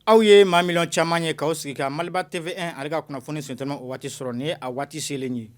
Aw ye maa miliyɔn caman ye k'aw sigi ka Maliba TV ale ka kunnafoni sentelima o waati sɔrɔ nin ye a waati selen ye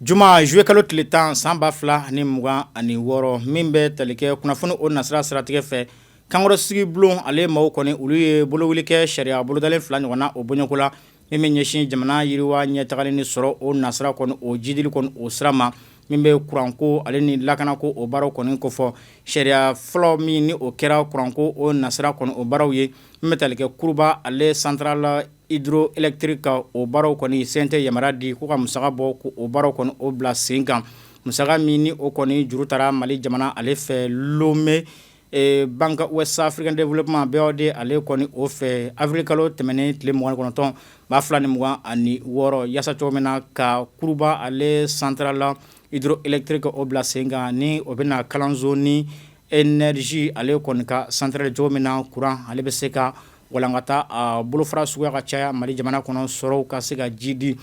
juma zuluye kalo tile tan san ba fila ani mugan ani wɔɔrɔ min bɛ tali kɛ kunnafoni o nasira siratigɛ fɛ kankɔrɔsigi bulon ale maaw kɔni olu ye bolowuli kɛ sariya bolodalen fila ɲɔgɔn na o bɔɲɔgɔnko la min bɛ ɲɛsin jamana yiriwa ɲɛtagali ni sɔrɔ o nasira kɔni o jidili kɔni o sira ma min bɛ kuranko ale ni lakanako o baaraw kɔni kofɔ sariya fɔlɔ min ni o kɛra kuranko o nasira kɔni o baaraw ye min bɛ tali kɛ kuruba ale centrale hydroélectrique ka o baaraw kɔni CNT yamaruya di k'u ka musaka bɔ k'o baaraw kɔni o bila sen kan musaka min ni o kɔni juru tara mali jamana ale fɛ Lomé Ee Banque Ouest Africa Développement BOAD ale kɔni o fɛ awirili kalo tɛmɛnen tile mugan ni kɔnɔntɔn ba fila ni mugan ani wɔɔrɔ yaasa cogo min na ka kuruba ale centrale hydroélectrique o bila sen kan ni o bɛna kalanso ni énergie ale kɔni ka centrale cogo min na kuran ale bɛ se ka walankata a bolofara suguya ka caya mali jamana kɔnɔ sɔrɔw ka se ka jidi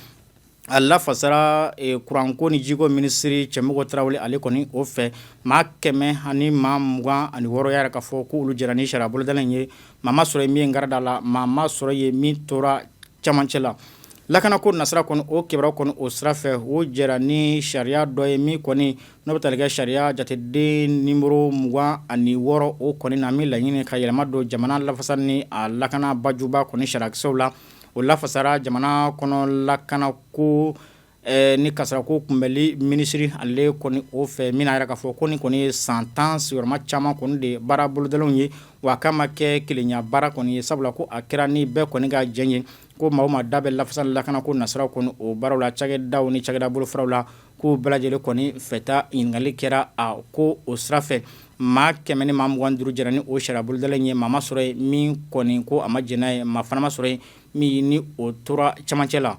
A lafasara kuranko ni jiko minisiri Cɛmɔgɔ Tarawele ale kɔni o fɛ maa kɛmɛ ani maa mugan ani wɔɔrɔ y'a yira k'a fɔ k'olu jɛra ni sariya bolodalen ye maa ma sɔrɔ yen min kari da la maa ma sɔrɔ yen min tora camancɛ la lakanako nasira kɔni o kibaruya kɔni o sira fɛ u jɛra ni sariya dɔ ye min kɔni n'o bɛ tali kɛ sariya jateden nimɔrɔ mugan ani wɔɔrɔ o kɔni na min laɲini ka yɛlɛma don jamana lafasa ni a lakana bajuba kɔni sariyakisɛw la o lafasara jamana kɔnɔ lakanako ni kasaarako kunbɛnli minisiri ale kɔni o fɛ min y'a yira k'a fɔ ko nin kɔni ye san tan sigiyɔrɔma caman kɔni de baara bolodalenw ye wa k'a ma kɛ kelenya baara kɔni ye sabula ko a kɛra ni bɛɛ kɔni ka jɛn ye ko maa o maa da bɛ lafasa ni lakanako nasiraw kɔni o baaraw la cakɛdaw ni cakɛda bolofaraw la K'u bɛɛ lajɛlen kɔni fɛta ɲininkali kɛra a ko o sira fɛ maa kɛmɛ ni maa mugan duuru jɛra ni o sariya bolodalen ye maa ma sɔrɔ yen min kɔni ko a ma jɛn n'a ye maa fana ma sɔrɔ yen min ni o tora camancɛ la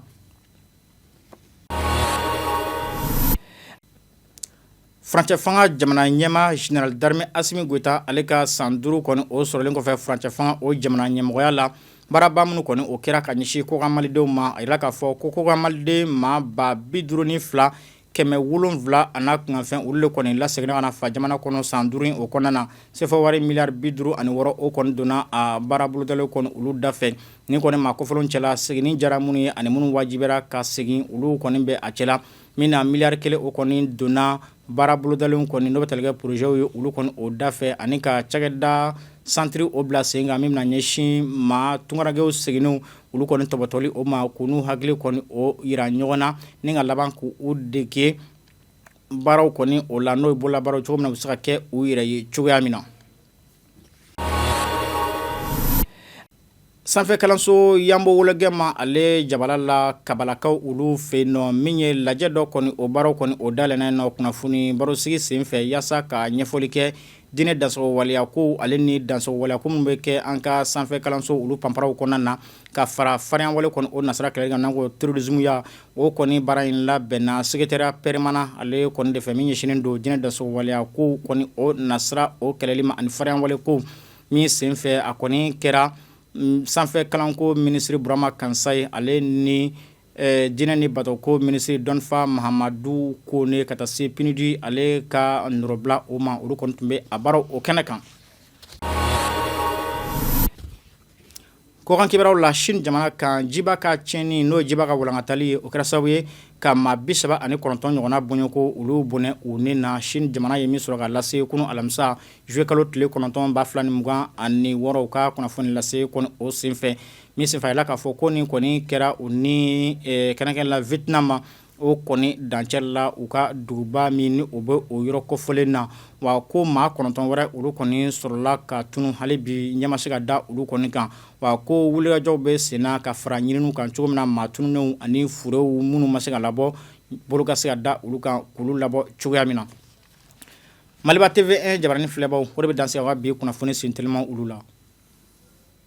furancɛ fanga jamana ɲɛmaa général d'armée Assimi Goïta ale ka san duuru kɔni o sɔrɔlen kɔfɛ furancɛ fanga o jamana ɲɛmɔgɔya la Baaraba minnu kɔni o kɛra ka ɲɛsin kɔkan malidenw ma a yira k'a fɔ ko kɔkan maliden maa ba bi duuru ni fila kɛmɛ wolonwula a n'a kunkanfɛn olu de kɔni laseginna ka na fa jamana kɔnɔ san duuru o kɔnɔna na sefa wari miliyari bi duuru ani wɔɔrɔ o kɔni donna a baara bolodalen kɔni olu dafɛ nin kɔni maa kofɔlen cɛla seginni diyara minnu ye ani minnu wajibiyara ka segin olu kɔni bɛ a cɛla min na miliyari kelen o kɔni donna baara bolodalenw kɔni n'o bɛ tali kɛ porozɛw ye olu kɔni o da fɛ ani ka cakɛda santiri o bila sen kan min bɛna ɲɛsin maa tunkarankɛw seginnenw olu kɔni tɔpɔtɔli o ma k'u n'u hakili kɔni o jira ɲɔgɔn na ni ka laban k' u dege baaraw kɔni o la n'o ye bolola baaraw cogo min u bɛ se ka kɛ u yɛrɛ ye cogoya min na Sanfɛkalanso yanbo wologɛma ale jabala la kabalakaw olu fɛ yen nɔ min ye lajɛ dɔ kɔni o baaraw kɔni o dayɛlɛnna nɔ kunnafoni barosigi senfɛ yaasa ka ɲɛfɔli kɛ diinɛ dansagon waleya ko ale ni dansagon waleya ko minnu bɛ kɛ an ka sanfɛkalanso olu panparaw kɔnɔna na ka fara faririnya wale kɔnɔ o nasa kɛrɛkan n ko terirurrodzya O kɔni baara in labɛnna sekeretariya pɛrimanan ale kɔni de fɛ min ɲɛsinnen don diinɛ dansagon waleya ko kɔni o nasira o kɛlɛli ma ani farinya wale ko min senfɛ a kɔni kɛra sanfɛ kalanko minisiri burama kansayi ale ni diinɛ ni batoko minisiri dɔnfa mahamadu kone ka taa se pinudi ale ka nɔrɔbila o ma olu kɔni tun bɛ a baara o kɛnɛ kan Kɔkan kibaruyaw la sini jamana kan jiba ka tiɲɛni n'o ye jiba ka walankatali ye o kɛra sababu ye ka maa bi saba ani kɔnɔntɔn ɲɔgɔnna bɔɲɔgɔnko olu bɔnɛ u ni na sini jamana ye min sɔrɔ ka lase kunun alamisa zuluye kalo tile kɔnɔntɔn ba fila ni mugan ani wɔɔrɔ u ka kunnafoni lase kɔni o senfɛ min senfɛ a yirala k'a fɔ ko nin kɔni kɛra u ni kɛrɛnkɛrɛn la wiyɛtinamu o kɔni dancɛ la u ka duguba min ni u bɛ o yɔrɔ kɔfɔlen na wa ko maa kɔnɔntɔn wɛrɛ olu kɔni sɔrɔla ka tunun hali bi ɲɛ ma se ka da olu kɔni kan wa ko wulikajɔw bɛ senna ka fara ɲininiw kan cogo min na maa tununnenw ani furew minnu ma se ka labɔ bolo ka se ka da olu kan k'olu labɔ cogoya min na maliba tv jabaranin filɛbaw o de bɛ dan sigi an ka bi kunnafoni senteliman olu la